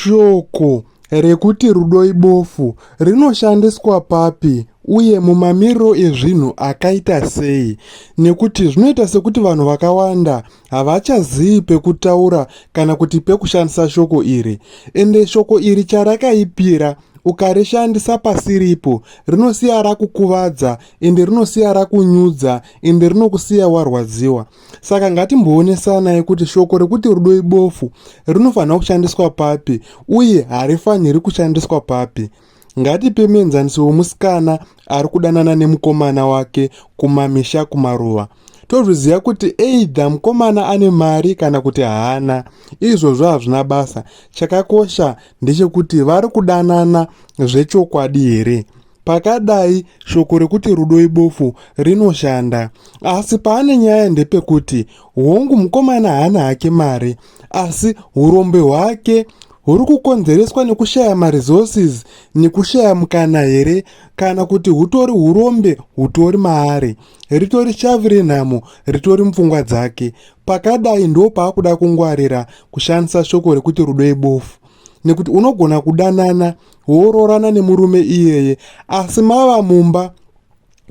Shoko rekuti rudo ibofu rinoshandiswa papi uye mumamiriro ezvinhu akaita sei nekuti zvinoita sekuti vanhu vakawanda havachazivi pekutaura kana kuti pekushandisa shoko iri ende shoko iri charakaipira ukarishandisa pasiripo rinosiya rakukuvadza ende rinosiya rakunyudza ende rinokusiya warwadziwa Saka ngatimboonesanai kuti shoko rekuti rudo ibofu rinofanira kushandiswa papi uye harifaniri kushandiswa papi. Ngatipe muenzaniso wemusikana ari kudanana nemukomana wake kumamisha kumaruva. Tozviziva kuti eidha mukomana ane mari kana kuti haana, izvozvo hazvina basa. Chakakosha ndechekuti vari kudanana zvechokwadi here. Pakadai, shoko rekuti rudo ibofu rinoshanda. Asi paane nyaya ndepekuti, hongu mukomana haana hake mari, asi urombe hwake huri kukonzereswa nekushaya maresources nekushaya mukana here kana kuti hutori urombe hutori maari ritori shavi renhamo ritori mupfungwa dzake pakadai ndo paakuda kungwarira kushandisa shoko rekuti rudo ibofu nekuti unogona kudanana woroorana nemurume iyeye asi mava mumba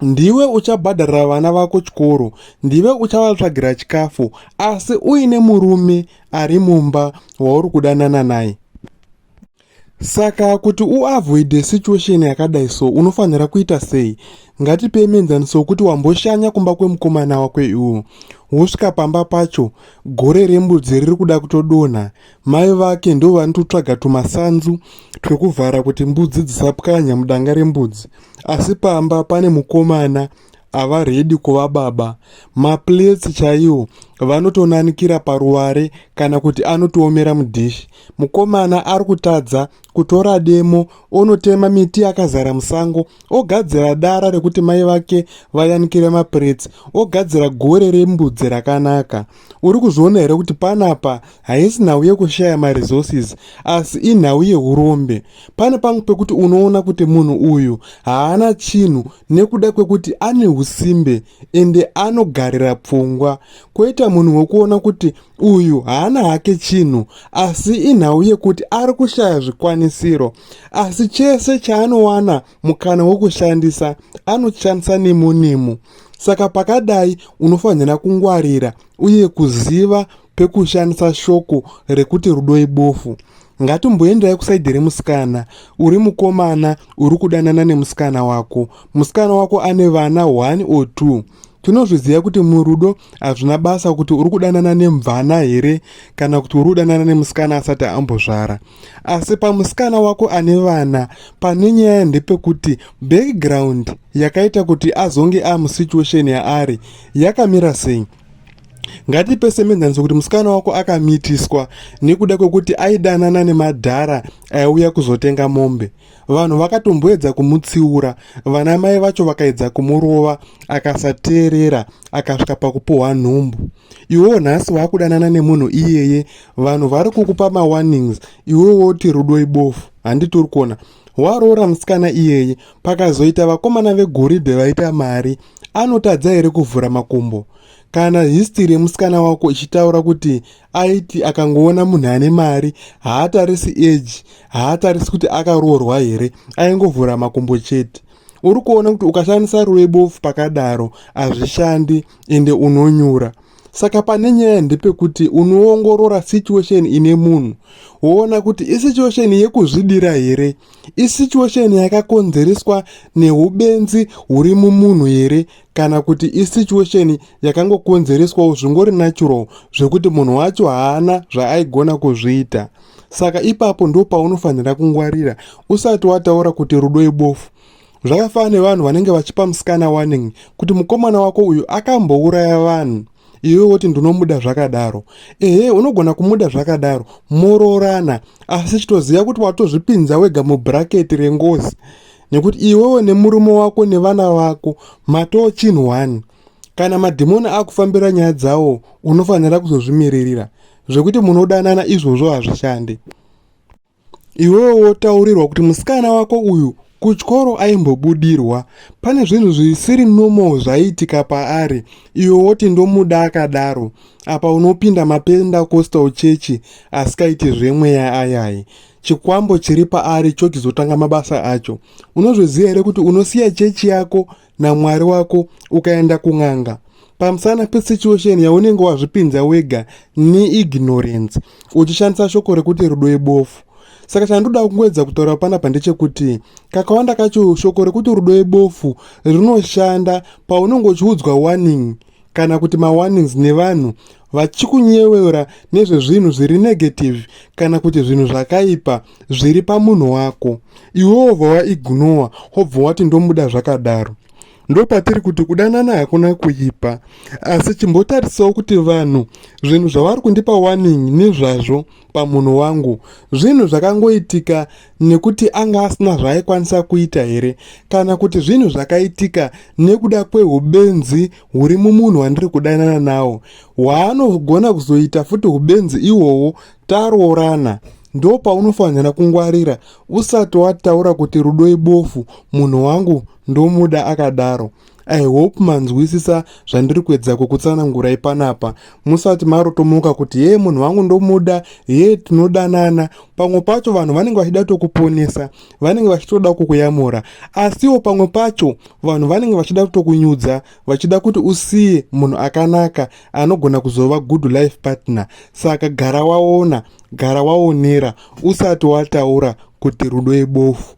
ndiwe uchabhadharira vana vako chikoro ndive uchavatsvagira chikafu asi uine murume ari mumba wauri kudanana naye saka kuti uavoide situation yakadai so unofanira kuita sei ngatipe mienzaniso wekuti wamboshanya kumba kwemukomana wako iwo wosvika pamba pacho gore rembudzi riri kuda kutodonha Mai vake ndivo vanototsvaga tumasanzu twekuvhara kuti mbudzi dzisapwanya mudanga rembudzi asi pamba pane mukomana ava redi kuva baba. Maplates chaiwo vanotonanikira paruware kana kuti anotoomera mudhishi. Mukomana ari kutadza kutora demo onotema miti yakazara musango ogadzira dara rekuti mai vake vayanikire maplates ogadzira gore rembudzi rakanaka. Uri kuzviona here kuti panapa haisi nhau yekushaya maresources asi inhau yeurombe pane pamwe pekuti unoona kuti munhu uyu haana chinhu nekuda kwekuti ane usimbe ende anogarira pfungwa koita munhu wekuona kuti uyu haana hake chinhu asi inhau yekuti ari kushaya zvikwanisiro asi chese chaanowana mukana wekushandisa anoshandisa nemunimo saka pakadai unofanira kungwarira uye kuziva pekushandisa shoko rekuti rudo ibofu ngatimboendayi kusaidhi remusikana uri mukomana uri kudanana nemusikana wako musikana wako ane vana one or two tinozviziva kuti murudo hazvina basa kuti uri kudanana nemvana here kana kuti uri kudanana nemusikana asati ambozvara asi pamusikana wako ane vana pane nyaya ndepekuti background yakaita kuti azonge amusituation yaari yakamira sei ngatipe semenzaniso kuti musikana wako akamitiswa nekuda kwekuti aidanana nemadhara aiuya kuzotenga mombe vanhu vakatomboedza kumutsiura vana mai vacho vakaedza kumurova akasateerera akasvika pakupuhwa nhumbu iwewo nhasi waakudanana nemunhu iyeye vanhu vari kukupa mawarnings iwewo woti rudo ibofu handiti uri kuona waroora musikana iyeye pakazoita vakomana vegoridhe vaita mari anotadza here kuvhura makumbo kana histiri yemusikana wako ichitaura kuti aiti akangoona munhu ane mari haatarisi eji haatarisi kuti akaroorwa here aingovhura makumbo chete uri kuona kuti ukashandisa ruve bofu pakadaro hazvishandi ende unonyura saka pane nyaya ndepekuti unoongorora situation ine munhu woona kuti isituation yekuzvidira here isituation yakakonzereswa neubenzi huri mumunhu here kana kuti isituation yakangokonzereswawo zvingori natural zvekuti munhu wacho haana zvaaigona kuzviita saka ipapo ndopaunofanira kungwarira usati wataura kuti rudo ibofu Zvakafanana nevanhu vanenge vachipa musikana warning kuti mukomana wako uyu akambouraya vanhu iwe woti ndinomuda zvakadaro ehe unogona kumuda zvakadaro moroorana asi chitoziva kuti watozvipinza wega mubhuraketi rengozi nekuti iwewo nemurume wako nevana vako matoo chinhu one kana madhimoni akufambira nyaya dzawo unofanira kuzozvimiririra zvekuti munodanana izvozvo hazvishandi iwewe wotaurirwa kuti musikana wako uyu kuchikoro aimbobudirwa pane zvinhu zvisiri normal zvaiitika paari iwe woti ndomuda akadaro apa unopinda mapendacostal chechi asikaiti zvemweya ayayi chikwambo chiri paari chokizotanga mabasa acho unozviziva here kuti unosiya chechi yako namwari wako ukaenda kun'anga pamusana pesituation yaunenge wazvipinza wega neignorance uchishandisa shoko rekuti rudo ibofu saka chandoda kungoedza kutaura panapa ndechekuti kakawanda kacho shoko rekuti rudo ibofu rinoshanda paunenge uchiudzwa warning kana kuti mawarnings nevanhu vachikunyevera nezvezvinhu zviri negative kana kuti zvinhu zvakaipa zviri pamunhu wako iwewo wobva waignowa wobva wati ndomuda zvakadaro ndopatiri kuti kudanana hakuna kuipa asi chimbotarisawo kuti vanhu zvinhu zvavari kundipa warning nezvazvo pamunhu wangu zvinhu zvakangoitika nekuti anga asina zvaaikwanisa kuita here kana kuti zvinhu zvakaitika nekuda kweubenzi huri mumunhu wandiri kudanana nawo hwaanogona kuzoita futi ubenzi ihwohwo taroorana ndo paunofanira kungwarira usati wataura kuti rudo ibofu munhu wangu ndomuda akadaro i hope manzwisisa zvandiri kuedza kukutsanangurai panapa musati marotomoka kuti hee munhu wangu ndomuda hee tinodanana pamwe pacho vanhu vanenge vachida tokuponesa vanenge vachitoda kukuyamura asiwo pamwe pacho vanhu vanenge vachida kutokunyudza vachida kuti usiye munhu akanaka anogona kuzova good life partner saka gara waona gara waonera usati wataura kuti rudo ibofu